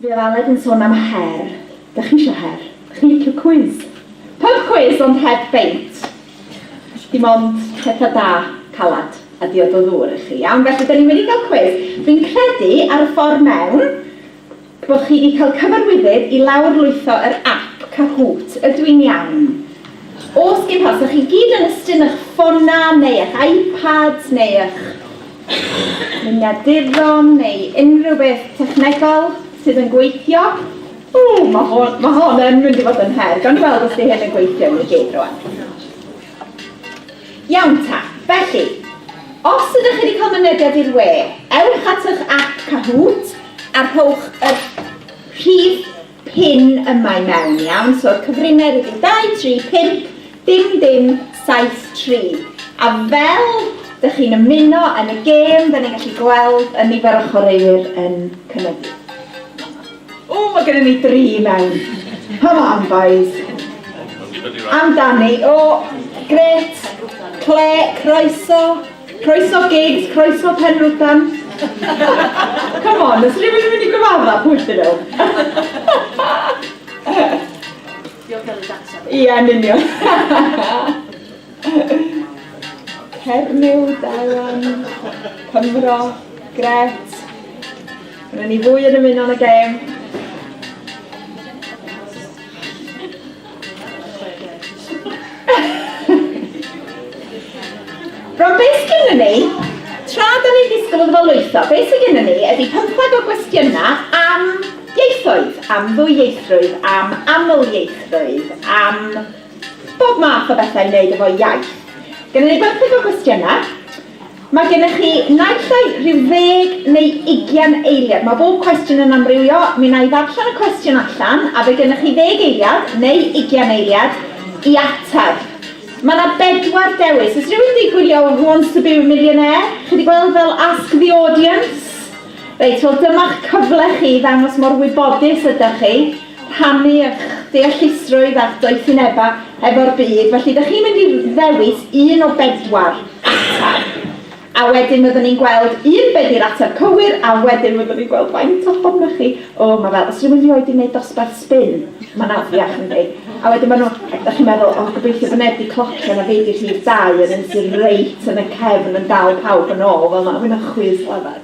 Fi ar Aled yn son am her. Dach chi isio her? Dach chi'n licio cwis? Pub cwis ond heb beint. Dim ond petha da, calad a diod o ddŵr i chi, iawn? Felly, 'da ni wedi cael cwis. Dwi'n credu, ar y ffordd mewn, Bo chi di cael cyfarwyddyd i lawr lwytho yr app Kahoot ydw i'n iawn? Os gin pa os dach chi gyd yn ystyn ych ffona neu ych iPads neu ych luniaduron neu unrhyw beth technegol sydd yn gweithio, ww ma hon ma hon yn mynd i fod yn her, gawn ni weld os di hyn yn gweithio i ni gyd rwan. Iawn ta. Felly, os ydych chi wedi cael mynediad i'r we, ewch at eich ap Kahoot a rhowch y rhif pin yma i mewn, iawn? So'r cyfrinair ydy 2, 3, 5, dim, dim, 7, 3. A fel dych chi'n ymuno yn y gêm, da ni'n gallu gweld y nifer o chwaraewyr yn cynyddu. O, mae gennym ni dri i mewn. Come on, boys. Amdani. O, gret. Cle, croeso. Croeso gigs, croeso penrwdan. Come on, os rhywun yn mynd i gyfadda, pwy dyn nhw? Diolch am y data. Ie, yn union. Cernyw da iawn. Cymro. Gret. Dyna ni fwy yn ymuno yn y gêm. Rwan, beth sydd gennym ni, tra da ni'n disgwyl iddo fo lwytho, beth sydd gennym ni ydy pymtheg o gwestiynau am ieithoedd, am ddwyieithrwydd, am amlieithrwydd, am Bob math o bethau i wneud efo iaith. Gynnon ni bymtheg o gwestiynau. Mae gennych chi naill ai rhyw ddeg neu ugian eiliad. Mae bob cwestiwn yn amrywio. Mi wna i ddarllen y cwestiwn allan a fe gennych chi ddeg eiliad neu ugian eiliad i ateb. Mae yna bedwar dewis. Oes rhywun wedi gwylio Who Wants to be a Millionaire? Chi wedi gweld fel Ask the Audience? Reit, wel dyma'ch cyfle chi i ddangos mor wybodus ydych chi. rhannu eich deallusrwydd a'ch doethinebau efo'r byd, felly dych chi'n mynd i ddewis un o bedwar ateb, a wedyn fyddwn ni'n gweld un be di'r ateb cywir, a wedyn fyddwn ni'n gweld faint ohonoch chi, o ma' fel os rywun rioed di wneud dosbarth sbin, ma'n afiach yndi? A wedyn ma' nhw, dych chi'n meddwl o gobeithio bod neb di clocio na fi di rhif dau yn un sydd reit yn y cefn yn dal pawb yn ôl fel ma' hwnna'n chwith lafar.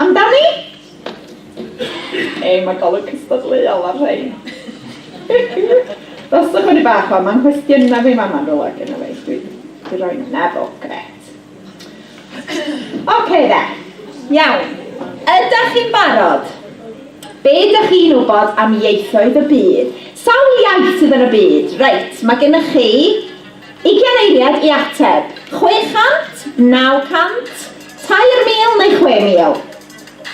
Amdani? Ei, mae golwg cystadleuol ar rhain. Dos â chwni bach o, mae'n cwestiynau fi mama'n rhywle gyda fi. Dwi wedi rhoi na fo, gret. Oce da, iawn. Ydych chi'n barod? Be ydych chi'n wybod am ieithoedd y byd? Sawl iaith sydd yn y byd? Reit, mae gennych chi Ugain eiliad i ateb. Chwe chant? Naw cant? Tair mil neu chwe mil?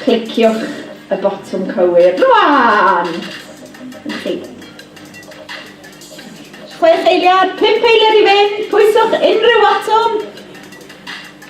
Cliciwch y botwm cywir rwan! Na chi. Chwech eiliad, pump eiliad i fynd, pwyswch unrhyw fotwm.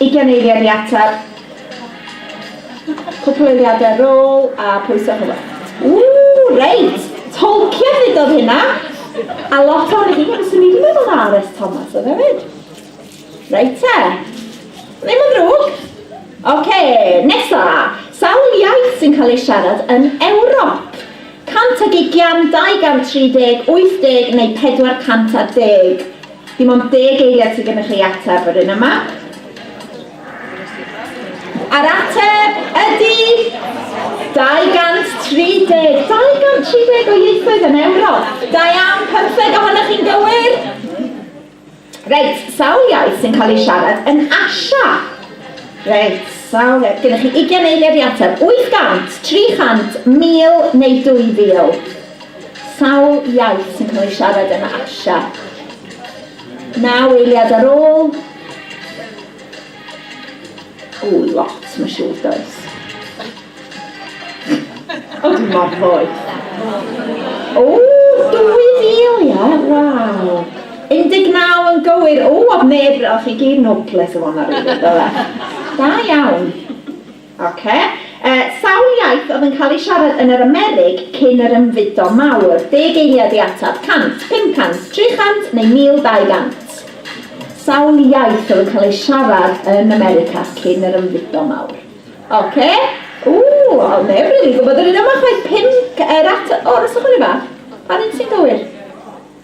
Ugain eiliad i ateb. Cwpl o eiliadau ar ôl a pwyso ar hywel. Ww, reit! Tolkien ddudodd hynna! A lot o'n chi, ond swn i wedi meddwl na RS Thomas oedd hefyd. Reit te. Ddim yn ddrwg. Oce, nesa. Sawl iaith sy'n cael ei siarad yn Ewrop? 100 ag ugian, 230, 80 neu 410? Dim ond deg eiliad sydd gennych chi i ateb yr un yma. A'r ateb ydy 230. 230 o ieithoedd yn Ewrop. Da iawn, pymtheg ohonoch chi'n gywir. Reit, sawl iaith sy'n cael ei siarad yn Asia? Reit, sawl iaith. Gennych chi 20 eiliad i ateb. 800, 300, 1000 neu 2000? Sawl iaith sy'n cael ei siarad yn Asia? Naw eiliad ar ôl. O, lot, mae'n siŵr, does? O, dwi'n mor ddoeth. O, 2,000, ia? Waw. 19 yn gywir. O, oedd neb, oedd chi gyd noples o fanna, rili, do fe? Da iawn. Ok. Yy, sawl iaith oedd yn cael ei siarad yn yr Amerig cyn yr Ymfudo Mawr? Deg eiliad i ateb. Cant, pum cant, tri chant neu mil dau gant? Sawl iaith oedd yn cael ei siarad yn America cyn yr Ymfudo Mawr? Ok. Ww, oedd neb rili'n gwybod yr un yma chwaith. Pump, yr at- o, rhoswch fyny bach. Pa un sy'n gywir?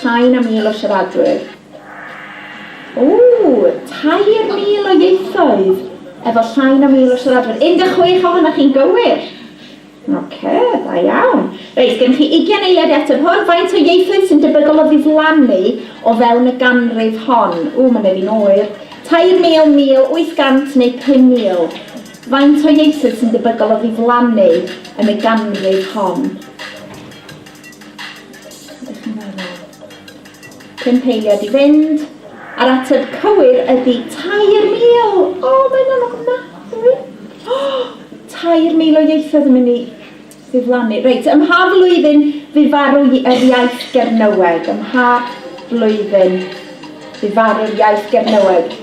Llai na mil o siaradwyr. Ww! 3,000 o ieithoedd efo llai na mil o siaradwyr. 16 ohonoch chi'n gywir. Oce, da iawn. Reit, gennych chi ugian eiliad i ateb hwn. Faint o ieithoedd sy'n debygol o ddiflannu o fewn y ganrif hon? Ww, mae'n neud fi'n oer. 3,000, 1,000, 800 neu 5,000? Faint o ieithoedd sy'n debygol o ddiflannu yn y ganrif hon? Pump eiliad i fynd. A'r ateb cywir ydy 3,000! O, mae'n anodd ofnadwy! O, 3,000 o ieithoedd yn mynd i ddiflannu. Reit, ym mha flwyddyn fu farw yr iaith Gernyweg? Ym mha flwyddyn fu farw'r iaith Gernyweg?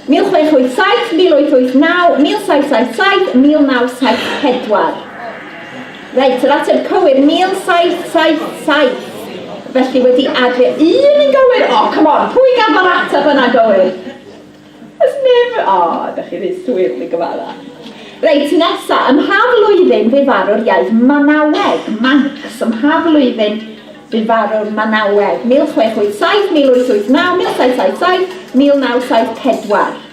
1687, 1889, 1777, 1974. Reit, yr ateb cywir, 1777. Felly wedi adre un yn gywir. O, oh, come on, pwy gaf o'r ateb yna gywir? Ys neb, o, oh, ydych chi rhy swyr mi gyfala. Reit, nesa, ym mha flwyddyn fu farw'r iaith Manaweg? Manx, ym mha flwyddyn fu farw'r Manaweg? 1687, 1889, 1777, 1974.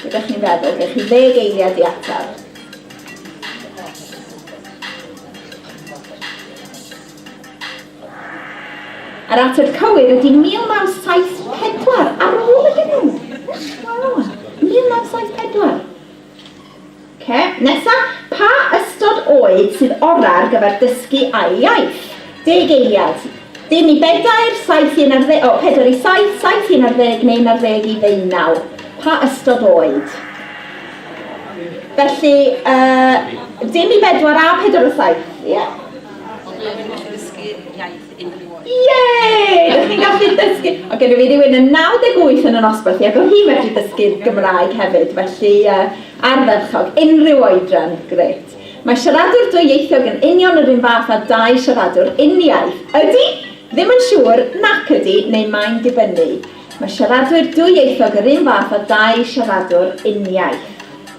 Be dych chi'n feddwl? Gei chi ddeg eiliad i ateb. Yr ateb cywir ydy 1974, ar ôl iddyn nhw! Wow! 1974! Ok, nesa, pa ystod oed sydd orau ar gyfer dysgu ail iaith? Deg eiliad. Dim i bedair, saith i unarddeg, o, pedair i saith, saith i unarddeg neu unarddeg i ddeunaw. Pa ystod oed? Felly, uh, dim i bedwar a pedair o saith, ie? Yeah. Pobl yn dysgu iaith. unrhyw oed. Yay! Rydych chi'n gallu dysgu! O, gennym ni rywun yn 98 yn y nosbarth, ac oedd hi'n medru dysgu'r Gymraeg hefyd, felly uh, ardderchog, unrhyw oedran, gret. Mae siaradwr dwyieithog yn union yr un fath â dau siaradwr uniaith. Ydy? Ddim yn siŵr, nac ydy, neu mae'n dibynnu. Mae siaradwyr dwyieithog yr un fath â dau siaradwr uniaith.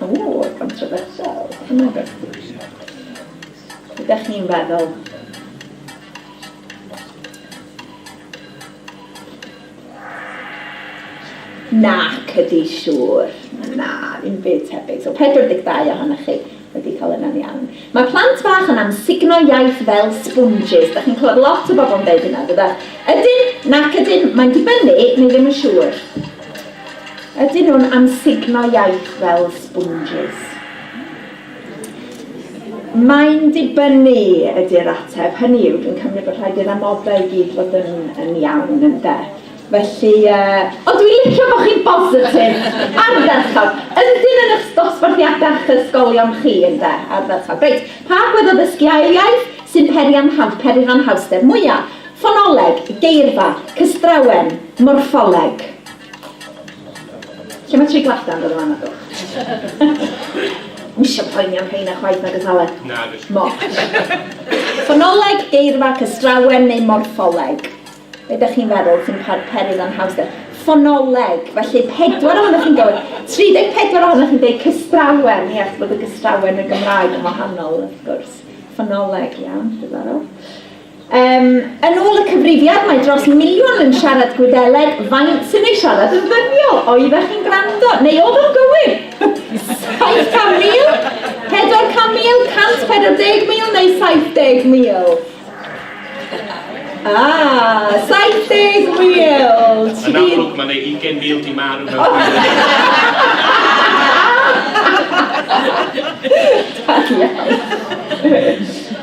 O, controversial. Ydych chi'n feddwl? Nac ydy, siŵr. Na, ddim byd tebyg. So 42 ohonoch chi wedi cael yna'n iawn. Mae plant bach yn amsugno iaith fel sponges. Da chi'n clywed lot o bobl yn dweud hynna, dyda? Ydyn, nac ydyn, mae'n dibynnu, neu ddim yn siŵr. Ydyn nhw'n amsugno iaith fel sponges? Mae'n dibynnu ydy'r ateb. Hynny yw, dwi'n cymryd bod rhaid i'r amodau i gyd fod yn, yn iawn, ynde? Felly, uh... Ond dwi'n licio bod chi'n bositif, ardderchog. Ydyn yn eich dosbarthiadau a'ch ysgolion chi, ynde? Ardderchog. Reit, pa agwedd o ddysgu ail iaith sy'n peri am ham, peri rhan hawster mwya'? Ffonoleg, geirfa, cystrawen, morffoleg? Lle mae tri gwallt-dan dod o fama dwch? Ddim isio poeni am rheina chwaith na gythale? Na gall. Moch. Ffonoleg, geirfa, cystrawen neu morffoleg? Be dych chi'n feddwl sy'n pa- perydd anhawster? Ffonoleg, felly pedwar ohonoch chi'n gywir. 34 ohonoch chi'n deud cystrawen, ie, achos bod y gystrawen yn Gymraeg yn wahanol wrth gwrs. Ffonoleg, iawn, diddorol. Um, yn ôl y cyfrifiad, mae dros miliwn yn siarad Gwyddeleg. Faint sy'n ei siarad yn ddyddiol? Oeddech chi'n gwrando? Neu oedd o'n gywir? 700,000? 400,000? 140,000 neu 70,000? Ah, 70,000! Yn amlwg, mae'n ei 20,000 di marw mewn Da iawn.